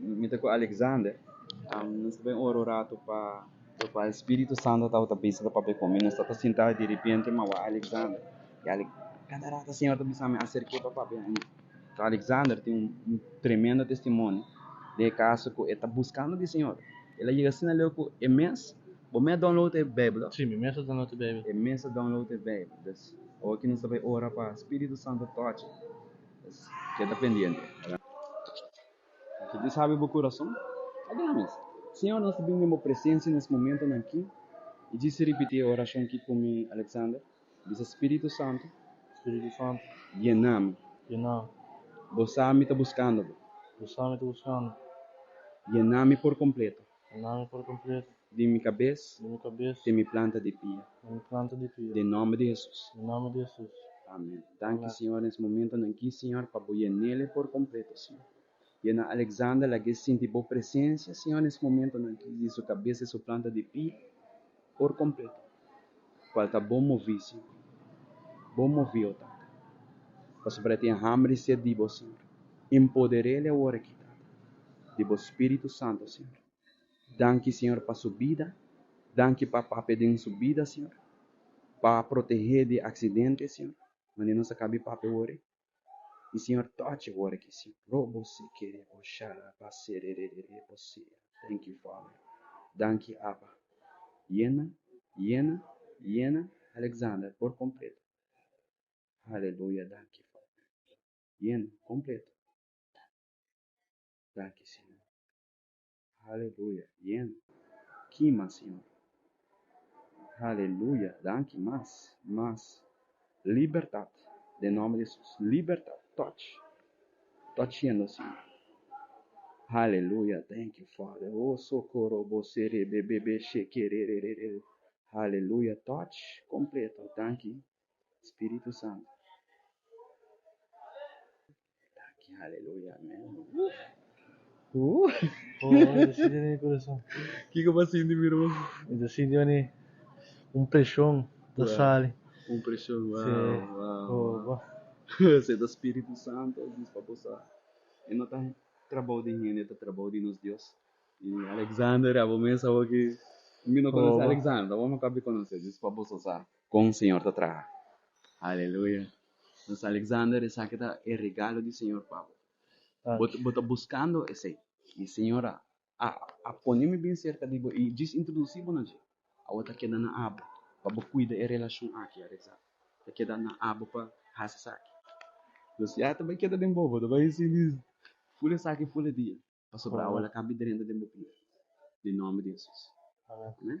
Mi ta ku Alexander. Nos ta bay ora un ratu pa tokal Spiritu Santo tabata bisa ta papia ku mi. Nos tabata sinta y derepente mi a wak Alexander y Alex Kada ratu e Señor ta bisa mi acerke pa papia ku mi. So Alexander tin un tremendo testimonio den e kaso ku e ta buskando di Señor. El a yega asina leu ku e mes bo mes a download e Beibel. Si, mi mes a download e Beibel. E mes a download e Beibel. Pues oki nos ta bay ora pa Spiritu Santo tochi. Pues keda pendiente. Ki tin sabi bo kurason, a dal mes. Siñor, nos ta bini den bo presensia nes momentonan aki i djis ripití e orashon ki komi Alexander bisa, Spiritu Santu, Spiritu Santu, yena mi. yena mi. Bo sa mi ta buskando bo. Bo sa mi ta buskando bo. Yena mi por kompleto. Nan por cumplir. Di mi cabes. Di mi cabes. Te mi planta di pia. Te mi planta di pia. Den nomber di Jesus. Den nomber di Jesus. Amen. Danki Señor nes momentonan aki Señor pa bo yenele por completo Señor. Yena Alexander lague sinti bo presencia Señor nes momentonan aki di su cabes te su planta di pia por kompleto, kual ta bo movisi, bo movio Tata, pasobra e tin hamber di ser di bo, Señor. Empoderele awor aki, Tata, di bo Spiritu Santo, Señor. Danki, Señor, pa su bida, danki pa Pape den su bida, Señor, pa protehe di aksidente, Señor, manera nos a kabi Pape awor ei. I Señor touch e word aki si probosekerebosharabaserererebosia thank you Father danki Abba yena yena yena Alexander por completo hallelujah danki Father yena completo danki Señor. Haleluya, bien kima Señor. Haleluya, danki mas, mas. Libertad den nomber di Jesus, libertad, touch, touchendo Señor. Haleluya, thank you Father, o sokoro bo sere bebebe shekerererere, haleluya, touch completo, danki Spiritu Santu. Taki haleluya amen. Woo! Oh, ita sinti na mi corazon. Kiko pa sinti mi run? Mi ta sinti wani un presion ta Wow. sali. Un presion, wow, Sí. wow, Oh, wow. bo. Ese ta Spiritu Santu a bis pa bosa. E no ta trabao di hende, e ta trabao di nos Dios. Y Alexander, abo mes abo ki mi no conoce Oh, bo. Alexander, abo me papia conoce, dis pa boso sa. Kon Señor ta traha. Aleluya nos Alexander esaki ta e regalo di Señor pa bo. Bo bo ta buskando esei i Señor a a a pone mi bin serka di bo i djis introdusi bo na dje. Awo ta keda na abo pa bo kuida e relashon aki Alexander ta keda na abo pa hasi esaki. Nos ya ta bai keda den bobo ta bai sinti ful esaki ful e dia pasobra awo la kambi drenta den bo pia den nomber di Hesus. Amen.